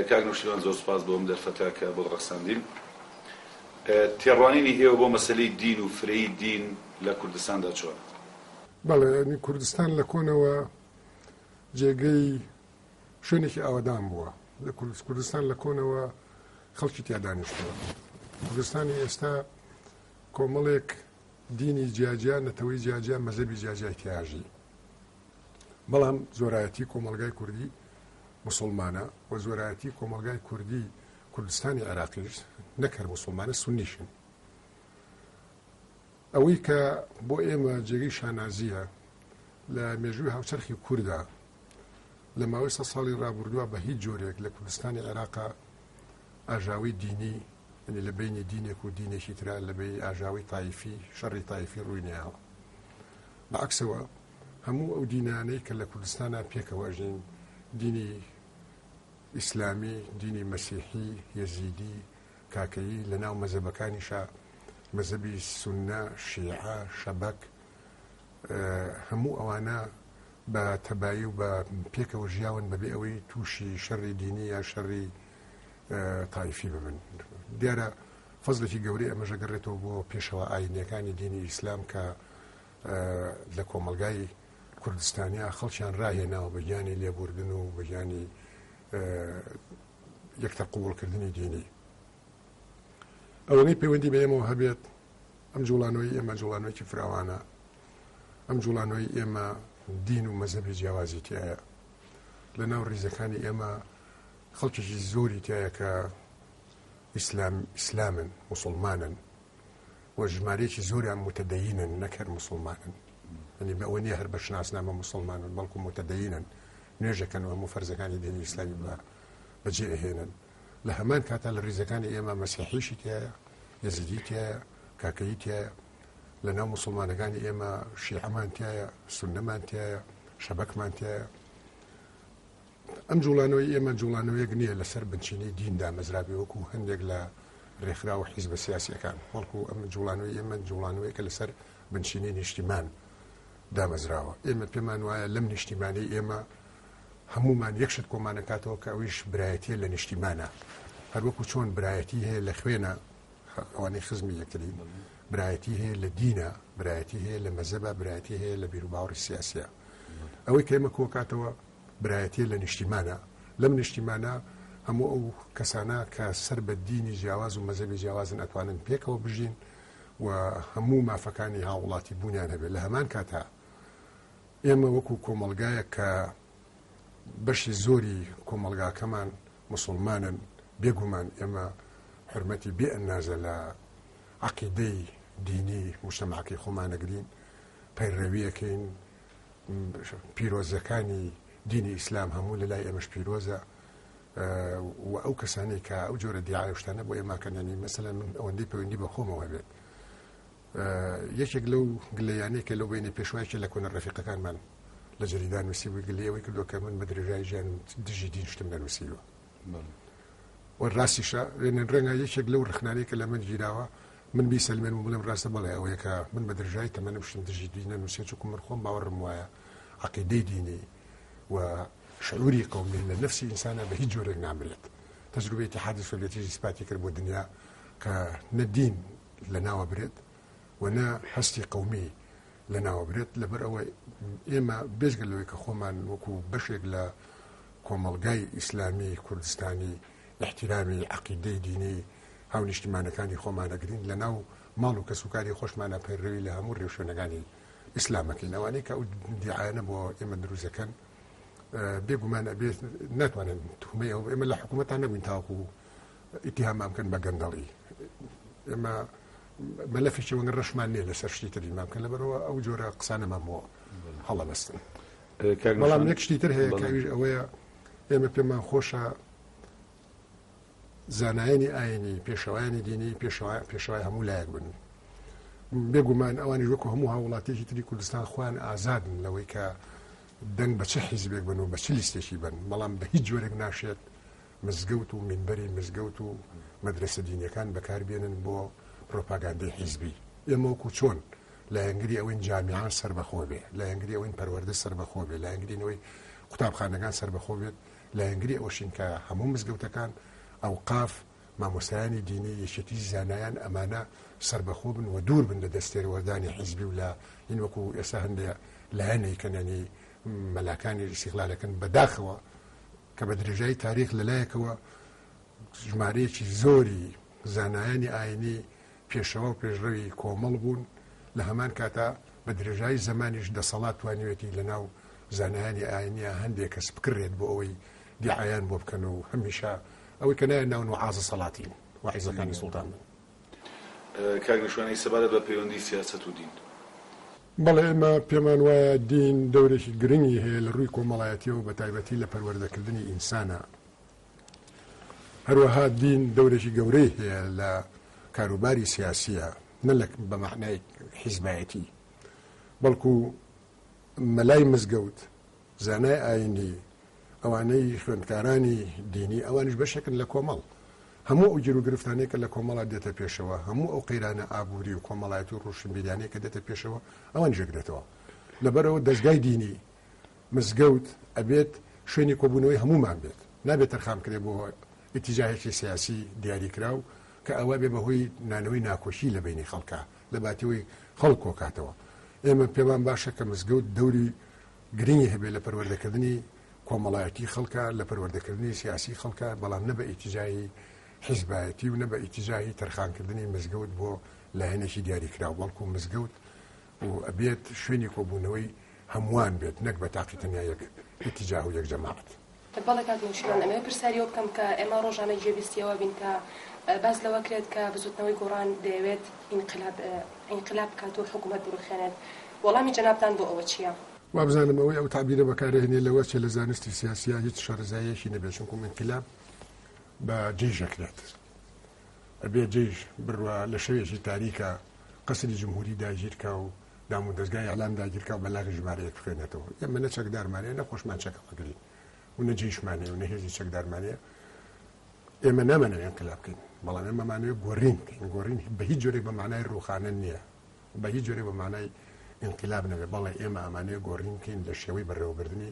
کاک نەوشیروان زۆر سوپاس بۆ ئەم دەرفەتە کە بۆت ڕەخساندین. تێڕوانینی ئێوە بۆ مەسەلەی دین و فرەیی دین لە کوردستاندا چۆنە؟ بەڵێ یانی کوردستان لە کۆنەوە جێگەی شوێنێکی ئاوەدان بووە لە کوردست کوردستان لە کۆنەوە خەڵکی تیا دانیشتووە کوردستانی ئێستا کۆمەڵێک دینی جیاجیا نەتەوەی جیاجیا مەزەبی جیاجیای تیاژی بەڵام زۆرایەتی کۆمەڵگای کوردی موسڵمانە و زۆرایەتی کۆمەڵگای کوردی کوردستانی عێراقیش نەک هەر موسڵمانە سونیشن ئەوەی کە بۆ ئێمە جێگەی شانازیە لە مێژووی هاوچەرخی کووردا لە ماوەی سە ساڵی رابردووە بە هیچ جۆرێک لە کوردستانی عێراقا ئاژاوی دینی ینی لە بینی دینێک و دینێکی تررا لە بینی ئاژاوی تایفی شەڕی تایفی ڕووینەیەوە بە عەکسەوە هەموو ئەو دینانەی کە لە کوردستانا پێکەوە ئەژین، دینی ئیسلامی، دینی مەسیحی، یەزیدی، کاکەیی، لە ناو مەزەبەکانیشا مەزەبی سوننە، شیعە، شەبەک، هەموو ئەوانە بە تەبایی و بە پێکەوە ژیاون بە بێ ئەوەی تووشی شەڕی دینی یان شەڕی تایفی ببن. دیارە فەزلێکی گەورەی ئەمەژە گەڕێتەوە بۆ پێشەوە ئاینیەکانی دینی ئیسلام کە لە کۆمەلگای کوردستانیا خەڵکیان راهێناوە بە گیانی لێبوردن و بەگیانی یەکتە قوڵکردنی دینی ئەوەی پەیوەندی بە ئێمەوە هەبێت ئەم جوڵانەوەی ئێمە جوڵانەوەی فراوانە ئەم جوڵانەوەی ئێمە دین و مەزەبی جیاوازی تایە لە ناو ریزەکانی ئێمە خەڵکیی زۆری تایە کە ئیسلام ئیسلامن مسلمانن و ژمارەیەکی زۆریان متدەینن نەک هەر مسلمانن ئەنی بە ئەوە نیە هەر بە شناسنامە مسلمانن بەڵکو متدەینن نوێژەکەن و هەموو فەرزەکانی دینی ئیسلامی بە بەجێ ئەهێنن لە هەمان کاتا لە ریزەکانی ئێمە مەسیحیشی تایە یزیدی تایە کاکەی تایە لە ناو مسلمانەکانی ئێمە شیعەمان تایە سندەمان تایە شەبەکمان تایە ئەم جوڵانەوەی ئێمە جوڵانەوەیەک نییە لەسەر بنچینەی دین دامەزرابێ وەکو هەندێک لە ڕێکخرا و حیزبە سیاسیەکان بەڵکو ئەم جوڵانەوەی ئێمە جوڵانەوەیکە لەسەر بنچینەی نیشتیمان دامەزراوە ئێمە پێمان وایە لەم نیشتیمانی ئێمە هەمومان یەکشت کۆمانەکاتەوە کە ئەویش برایەتیە لە نیشتیمانە هەروەکو چۆن برایەتی هەیە لە خوێنە ئەوانەی خزمی یەکتری برایەتی هەیە لە دینە برایەتی هەیە لە مەزەبە برایەتی هەیە لە بیرروباوەڕی سیاسە ئەوەی کەمە کۆکاتەوە برایەتیە لە نیشتیمانە لەم نیشتیمانە هەموو ئەو کەسانە کە سەر بە دینی جیاواز و مەزەبی جیاوازن ئەتوانن پێکەوە بژین و هەموو مافەکانی هاوڵاتی بوونیان هەبێت لە هەمان کاتا ئێمە وەکو کۆمەلگایە کە بەشی زۆری کۆمەلگاکەمان مسلمانن بێگومان ئێمە حرمەتی بێ ئەنازە لە عقیدەی دینی مشتماقی خۆمانەگرین پەیڕەویەکەین پیرۆزەکانی دینی ئیسلام هەموو لە لای ئێمەش پیرۆزە و ئەو کەسانی کە ئەو جۆرە دیعاوشتانە بۆ ئێماکەندنی مەسەلا من ئەوەندەی پەیوەندی بە خۆمەوە بێت یەکێک لەو گلیانەی کە لەو بینی پێشوایکە لە کۆنە ڕفیقەکانمان لە جریدان نووسیبووی گلیەوەی کردو کە من بە درێژای ژیان دژی دینشتم نەنووسیوە و راستیشە، لێنین رەنگە یەکێک لەو رەخنانەی کە لە من گیراوە، من بیسەلمێنم و بڵێم راستە، بەڵێ ئەوەیە کە من بە درێژایی تەمەنم شتم دژی دین نەنووسیە، چونکوو من خۆم باوەڕم وایە عەقیدەی دینی و شعووری قەومی لە نەفسی ئینسانا بە هیچ جۆرێک نامرێت. تەجروبەی ئیتیحادی سۆڤیەتیش ئیسپاتی کرد بۆ دنیا کە نە دین لە ناوە برێت، و نە هەستی قومی لە ناوەبرێت لەبەر ئەوە ئێمە بێزگە لەوەی کە خۆمان وەکو بەشێک لە کۆمەلگای ئیسلامی کوردستانی احتیرامی عقیدەی دینی هاو نیشتیمانەکانی خۆمانەگرین لە ناو ماڵ و کەسوکاری خۆشمانە پەیڕەوی لە هەموو رێوشوێنەکانی ئیسلامەکەین ئەوانەی کە ئەو دیعاەنە بۆ ئێمە دروزەکەن بێگومان ئەبێ ناتوانن تومە ئێمە لە حکوومەتان نەبووین تاوکو ئیتیهامان بکەن بە گەندەڵی ئێمە مەلەفێکی وەک ڕەشمان نییە لەسەر شتی تری مام کە لەبەرەوە ئەو جۆرە قسانەمان بۆ هەڵەبەستن بەڵام یەک شتی تر هەیە کاویش ئەوەیە ئێمە پێمان خۆشە زانایانی ئاینی پێشەوایانی دینی پێشەوای هەموو لایەک بن بێگومان ئەوانی وەکو هەموو هاوڵاتێکی تری کوردستان خوان ئازادن لەوەی کە دەنگ بە چه حیزبێک بن و بە چ لیستێکی بن بەڵام بە هیچ جۆرێک ناشێت مزگەوت و مینبەری مزگەوت و مەدرەسە دینیەکان بەکار بێنن بۆ پرۆپاگاندەی حیزبی، ئێمە وەکو چۆن لایەنگری ئەوەین جامیعە سەربەخۆ بێ، لایەنگری ئەوەین پەروەردە سەربەخۆ بێ، لایەنگرین ئەوەی قوتابخانەکان سەربەخۆ بێت، لایەنگری ئەوەشین کە هەموو مزگەوتەکان، ئەوقاف، مامۆستایانی دینی، یەکێتی زانایان ئەمانە سەربەخۆ بن و دوور بن لە دەست تێروەردانی حیزبی و لا ین وەکو ئێستا هەندێ لایەنەی کەنەنی مەلاکانی ئیستیغلالەکەن بەداخەوە کە بە درێژایی تاریخ لە لایەکەوە ژمارەیەکی زۆری زانایانی ئاینی پێشەوە و پێشڕەوی کۆمەڵ بوون لە هەمان کاتا بە درێژایی زمانیش دەسەڵات توانیوێتی لە ناو زانایانی ئاینە هەندێک کەس بکرێت بۆ ئەوەی دیعایان بۆ بکەن و هەمیشە ئەوەی کە نایە ناون و عازە سەڵاتین وعیزەکانی سوڵتان بن کاک نەشوان ئەی سەبارەت بە پەیوەندی سیاسەت و دین؟ بەڵێ ئێمە پێمان وایە دین دەورێکی گرنگی هەیە لە ڕووی کۆمەڵایەتیەوە بە تایبەتی لە پەروەردە کردنی ئینسانا هەروەها دین دەورێکی گەورەی هەیە لە کاروباری سیاسیە نە لە بە مەعنای حیزبایەتی بەڵکو مەلای مزگەوت زانای ئایینی، ئەوانەی خوێندکارانی دینی، ئەوانیش بەشێکن لە کۆمەڵ. هەموو ئەو گیروگرفتانەی کە لە کۆمەڵا دێتە پێشەوە، هەموو ئەو قەیرانە ئابووری و کۆمەڵایەتی و ڕۆشنبیریانەی کە دێتە پێشەوە، ئەوانیش یەکدێتەوە. لەبەرئەوە دەزگای دینی، مزگەوت، ئەبێت شوێنی کۆبوونەوەی هەموومان بێت. نابێت تەرخان بکرێت بۆ ئیتیجاهێکی سیاسی دیاریکراو کە ئەوە بێ بەهۆی نانەوەی ناکۆکی لە بەینی خەڵکا، لە باتیوەی خەڵک کۆکاتەوە. ئێمە پێمان باشە کە مزگەوت دەوری گرنگی هەبێت لە پەروەردەکردنی کۆمەڵایەتی خەڵکە، لە پەروەردەکردنی سیاسی خەڵکە، بەڵام نە بە ئیتجاهی حیزبایەتی و نە بە ئیتجاهی تەرخانکردنی مزگەوت بۆ لایەنێکی دیاریکراو، بەڵکو مزگەوت و ئەبێت شوێنی کۆبوونەوەی هەمووان بێت نەک بە تاقی تەنیا یەک ئیتجاه و یەک جەماعەت. بەڵێ کاک نەوشیروان ئەمەوێ پرسیار یەوە بکەم کە ئێمە ڕۆژانە گوێ بیستی ئەوە بین کە باس لەوە کرێت کە بزوتنەوەی گۆڕان دەیەوێت ئینقلاب ئینقلاب بکات و حکومەت بڕوخێنێت وەڵامی جەنابتان بۆ ئەوە چیە؟ وابزانم ئەوەی ئەو تەعبیرە بەکار ئەهێنێ لەوە چێ لە زانستی سیاسیا هیچ شەرەزاییەکی نەبێ چونکوم ئینقلاب بە جەیش ئەکرێت ئەبێ جەیش بڕوا لە شەوێکی تاریکا قەسری جمهوری داگیر کا و دامودەزگای ئیعلام داگیرکاو بە لاغی ژمارەیەک بخوێنێتەوە ئێمە نە چەکدارمانەیە نە خۆشمان چەکە بگرین و نە جیشمانەیە و نە هێزی چەکدارمانەیە ئێمە نامەنەوە ئەنقلا بکەین بەڵام ئێمەمانەوە گۆڕین بکەین گۆڕین بە هیچ جۆرێک بە مانای ڕوخانە نییە بە هیچ جۆرێک بە مانای ئینقلاب نەبێ بەڵێ ئێمە ئەمانەیە گۆڕین بکەین لە شێوەی بەڕێوەبردننی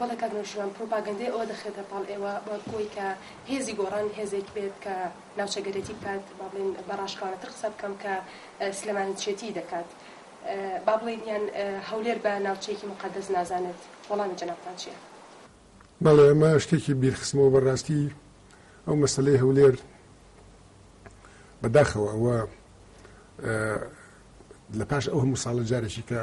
بەڵێ کاک نەوشیروان پروپاگەندەی ئەوە دەخرێتە پاڵ ئێوە بەوەی کە هێزی گۆڕان هێزێک بێت کە ناوچەگەرێتی بکات با بڵێن بە ڕاشکاوانەتر قسە بکەم کە سلێمانیچێتی دەکات با بڵێن یان هەولێر بە ناوچەیەکی مقەدەس نازانێت وەڵامی جەنابتان چییە؟ بەڵێ ئەمە شتێکی بیرخستمەوە بەڕاستی ئەو مەسلەی هەولێر بەداخەوە ئەوە لە پاش ئەو هەموو ساڵە جارێکی کە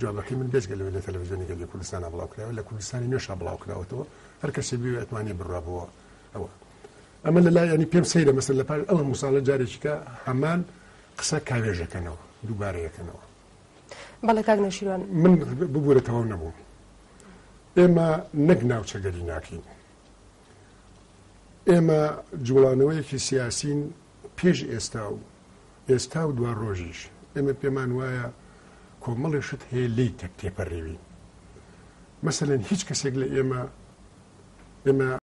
جوابەکەی من بێجگە لەوەی لە تەلەفزیۆنی گەلی کوردستانا بڵاوکرایەوە لە کوردستانی نوێشا بڵاوکراوەتەوە هەر کەسێ بوێ ئەتوانی بڕا بۆ ئەوە ئەمە لە لای ئەنی پێم سەیرە مەسەر لە پار ئەوە مساڵە جارێکیکە هەمان قسە کاوێژەکەنەوە دووبارە یەکەنەوە بەڵێ کاک نەشیوان من ببوورە تەواو نەبووم ئێمە نەک ناوچەگەری ناکەین ئێمە جوڵانەوەیەکی سیاسین پێش ئێستا و ئێستا و دوا ڕۆژیش ئێمە پێمان وایە کۆمەڵی شت هەیە لی تەک تێپەڕێوین مەسەن هیچ کەسێک لە ئێمە ئێمە